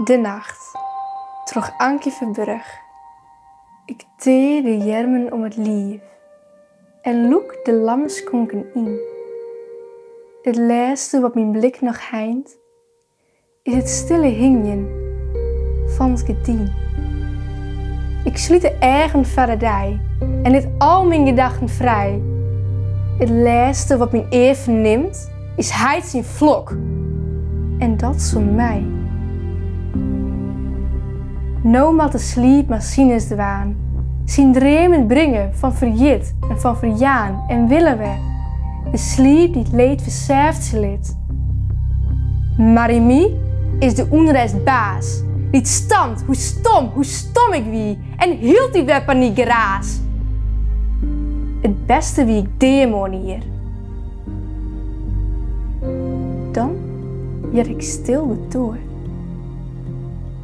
De Nacht, troch Ankie Verburg. Ik tear de earmen om it liif en lûk de lamme skonken yn. It lêste wat myn blik noch heint, is it stille hingjen fan it gerdyn. Ik slút de eagen foar de dei en lit al myn gedachten frij. It lêste wat myn ear fernimt. Is heit syn flok, en dat's om my. No moat de sliep mar sines dwaan, syn dreamen bringe fan ferjit en fan ferjaan en wille wer, de sliep dy't leed fersêftsje lit. Mar yn my is de ûnrêst baas, dy't stampt hoe stom, hoe stom ik wie en hieltyd wer panykgeraas. It bêste wie ik dea moarnier. Dan hear ik stil de doar.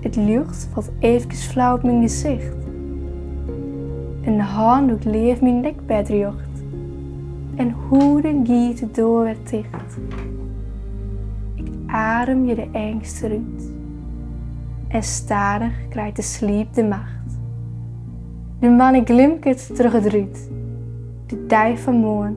It ljocht falt eefkes flau op myn gesicht. In hân lûkt leaf myn dekbêd rjocht. En hoeden giet de doar wer ticht. Ik ademje de eangst derút. En stadich krijt de sliep de macht. De moanne glimket troch it rút. De dei fan moarn